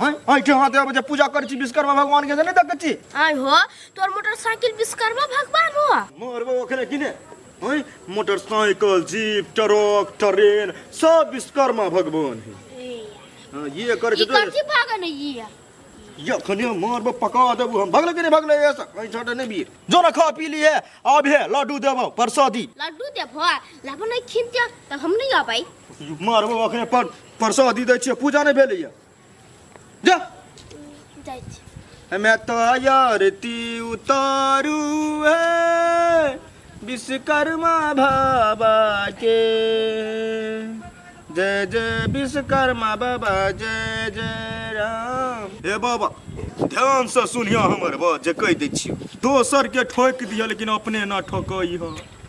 हैं हैं के हाथ आबे जे पूजा करै छी विश्वकर्मा भगवान के जे नै देखै छी आय हो तोर मोटरसाइकिल विश्वकर्मा भगवान हो मरबो ओखने कि नै हैं मोटरसाइकिल जीप ट्रक ट्रेन सब विश्वकर्मा भगवान है हां ये कर के तो की भागे नै ये ये खने मरबो पका देबो हम भगले के नै भगले ऐसा हैं छोटे नै बीर जो ना खा पी लिए अब है लड्डू देबो प्रसादी लड्डू देबो लाबो नै खिन त हम नै आबै मरबो ओखने पर प्रसादी दै छियै पूजा नहि भेलैए जा जाइ छी हमे तो आरती उतारू है विश्वकर्मा बाबा के जय जय विश्वकर्मा बाबा जय जय राम हे बाबा ध्यान से सुनिया हमर बात जे कहि दै छियै दोसर के ठोक दिया लेकिन अपने ना ठोकई हो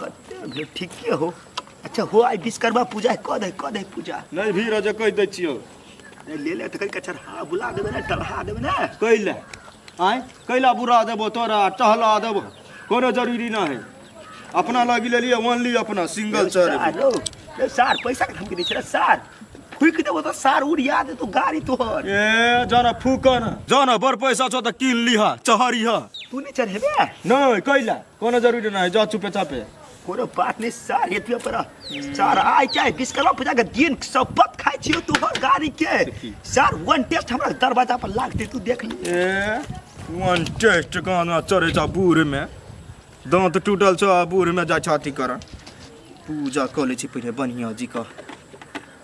कते भेल ठीके हो अच्छा हो आइ विश्वकर्मा पूजा है कऽ दे कऽ दे पूजा नहीं भी रजे कह दे छियो ए, ले ले तकर कचर हाँ बुला देबे ने टलहा देबे ने कैला आय कैला बुरा देबो तोरा टहला देबो कोनो जरूरी ना है अपना लगी ले लिए ओनली अपना सिंगल चढ़ सारो ए, सार पैसा के धमकी दै छै रे, सार फूक देबो तऽ सार उड़िया दे तू गाड़ी तोहर ए जाना फूकन जाना बड़ पैसा छो त कीन लिहा चहरिहा तू नहीं चढ़ेबे नहीं कैला कोनो जरूरी ना है जा चुपे चापे कोनो बात नहीं सार एतबे पर सार आइ के विश्वकर्मा पूजा के दिन शपथ खाइ छियो तू हर गाड़ी के देखी। सार वन टेस्ट हमरा दरवाजा पर लागते तू देख ली ए वन टेस्ट गाना चढ़े छ बूढ़ में दांत टूटल छ बूढ़ में जा छाती कर पूजा कऽ लै छी पहिले बढ़िया जी का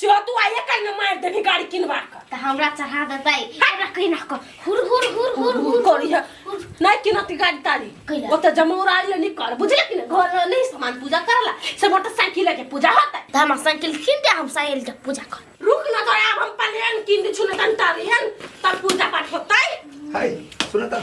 से तू आइए कहीं ना मार देनी गाड़ी किनवा कर त हमरा चढ़ा देतै हमरा कहि ना को हुर हुर हुर हुर हुर करी है नहीं किनती गाड़ी तारी कइला। ओते जमौरा ले नहीं कर बुझले कि ना घर में नहीं सामान पूजा करला से मोटरसाइकिल के पूजा होता त हमरा साइकिल किन दे हम साइकिल के पूजा कर रुक ना तो अब हम पलेन किन दे छुने तन तारी है तब पूजा पाठ होता है हाय सुनता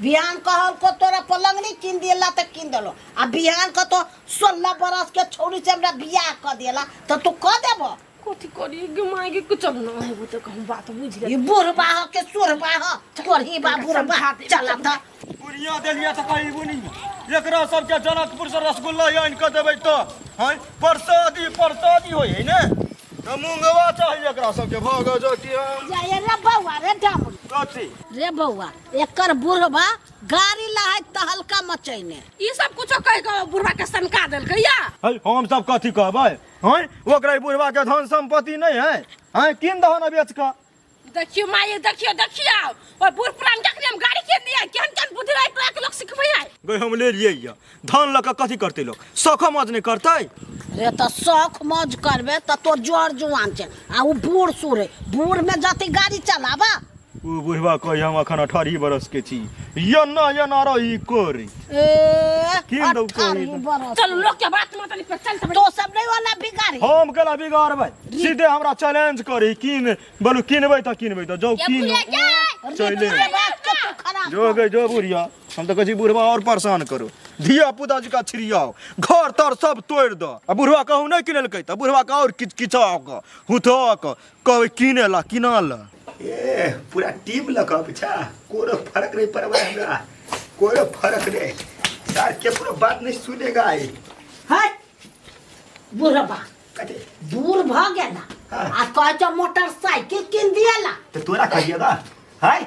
बिहान कहलको तोरा पलंगनी कीन दियला तऽ कीन देलो आ बिहान कहतो सोलह बरस के छौड़ी से हमरा बियाह कऽ दियला तऽ तू कऽ देबो कथी करी गे माय गे कुछ अब ना हेबो तऽ कहूँ बात बुझ ई गेल बुढ़बा ह के सुरबा ह कोरही बा बुढ़बा चला तऽ बुढ़िया देलिया तऽ कहीं बुनी एकरा सबके जनकपुर से रसगुल्ला आनि कऽ देबै तऽ हैं परसादी परसादी होइ है ने तऽ मूंगवा चाही एकरा सबके भऽ गए जो कि हम जाए रे बौआ रे डामन कथी रे बौआ एकर बुढ़बा गाड़ी लहैत तहलका मचैने ई सब कुछो कह के बुढ़वा के सनका देलकै या है हम सब कथी कहबै हैं ओकरा बुढ़वा के धन संपत्ति नहीं है हैं किन दहन बेच के देखियो माये देखियो देखियो और बुढ़ पुरान जखने हम गाड़ी के लिए केहन केहन बुद्धि रहे तोरा के लोग सिखबै है गई हम ले लिए धन लऽ कऽ कथी करतै लोक शौखो मौज नहि करतै रे तऽ शौख मौज करबे तऽ तोर जोर जुआन छै आ ओ बूढ़ सूढ़ है बूढ़ में जति गाड़ी चलाबा ओ बुढ़वा कही हम अखन अठारह बरस के छी यो न यो न रही कोरी ए की दौ कही? अठारह बरस चल लोग के बात में तनी पे चल सब तो सब नहीं वाला बिगाड़ी हम केला बिगाड़बै सीधे हमरा चैलेंज करी किन बोलू किनबै तऽ किनबै तऽ जाउ ये किन बुढ़िया क्या चले। रे बात के तू खराब जो गई जो बुढ़िया हम तऽ कहै छी बुढ़वा आओर परेशान करू धिया पुता जकाँ छिड़ियाओ घर तर सब तोड़ि दऽ आ बुढ़वा कहू नहि किनेलकै तऽ बुढ़वा के आओर किच किचा कऽ हुथा कऽ कहबै किने ला किना ला ए पूरा टीम लऽ कऽ पीछा कोनो फर्क नहीं पड़बा हमरा कोनो फर्क नहीं यार के पूरा बात नहीं सुनेगा ये हट बुढ़बा कते दूर भ गेला हाँ। आ कहै छौ मोटरसाइकिल किन दियला तो तोरा कहिएगा हाय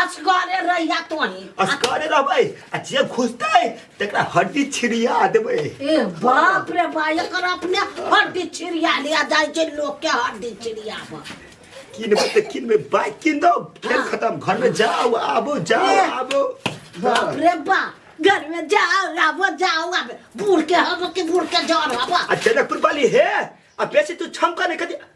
असगरे रह जा तोही असगरे रहबै आ जे घुसतै तकरा हड्डी छिड़िया देबै ए बाप रे बा एकर अपने हड्डी छिड़िया लिया जाइ छै लोग के हड्डी छिड़ियाबऽ किनबै तऽ किनबै बाइक किन दो खेल हाँ। खत्म घर में जाओ आबो जाओ ए। आबो बाप रे बा घर में जाओ आबो जाओ आबो बूढ़ के हबो कि बूढ़ के जड़ हबो आ जनकपुर वाली हे आ बेसी तू छमका नहीं कदी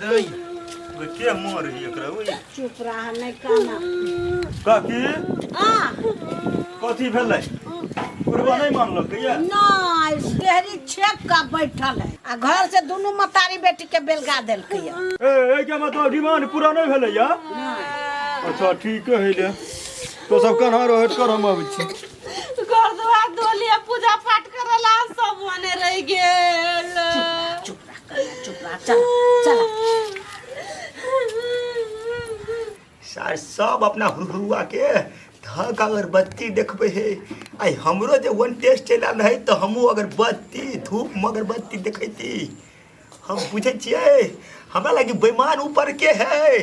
दई के मोर ही एकरा ओई चुप रहा नहीं कहना काकी आ कथी भेलै बुढ़वा नहीं मानलक कहिया नहीं डेहरी छेक का बैठल है आ घर से दोनों मतारी बेटी के बेलगा देलकै है। ए ए के मतलब डिमांड पूरा नहीं भेलै या अच्छा ठीक है ले तो सब कन्हा रहट कर हम आबै छी घर दुआर धोलिया पूजा पाठ करला सब मने रह गेल सार सब अपना हुरुआ के धक अगर बत्ती देखबे हे आई हमरो जे वन टेस्ट चलि आयल रहै तऽ हमहूँ अगर बत्ती धूप मगर बत्ती देखैती हम बुझै छियै हमरा लागि बेमान ऊपर के है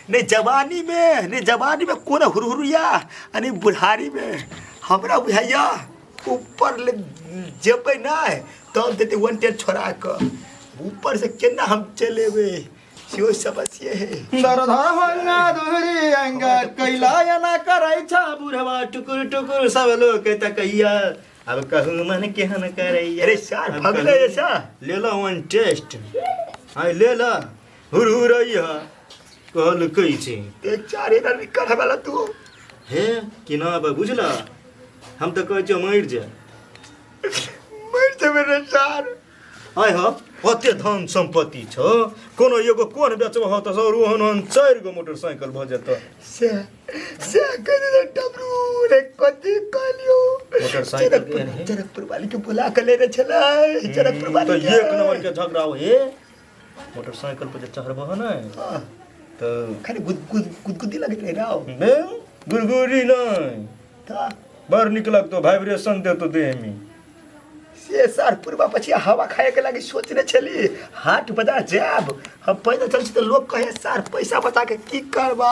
ने जवानी में ने जवानी में कोन हुरहुरिया आ ने बुढ़ारी में हमरा बुझाइया ऊपर ले जेबै नहि तब देतै वांटेड छोड़ा कऽ ऊपर से केना हम चलि एबै सेहो समस्ये है दरधा भंगा दुहरी अंगा कैला एना करै छ बुढ़वा टुकुर टुकुर सब लोग के तकैया अब कहू मन केहन करैया अरे सार भगले ऐसा ले लो वन टेस्ट हाय ले लो हुरहुरैया कहल कही छै ते चारे रवि करऽ वाला तू हे कि ना बा बुझला हम तऽ कहै छियौ मरि जा मरि जेबै रे चार आय हो ओते धन सम्पत्ति छौ कोनो एगो कोन बेचबह हौ तऽ सर ओहन ओहन चारि गो मोटरसाइकिल भऽ जेतौ से से कह दे डबरू रे कथी कहलियो मोटरसाइकिल के जनकपुर- है। जनकपुर वाली के बुला के लेने छलै जनकपुर वाली तऽ एक नंबर के झगड़ा हो हे मोटरसाइकिल पर जे चढ़बो है ना तो खाली गुद गुद गुदगुदी लगत रहे राव बे गुरगुरी नहीं ता बड़ निक लगतो वाइब्रेशन देतो देह में से सार पूर्वा पछि हवा खाए के लागि सोचने छली हाट बजार जाब हम पैदल चल छी त लोग कहे सार पैसा बचा के की करबा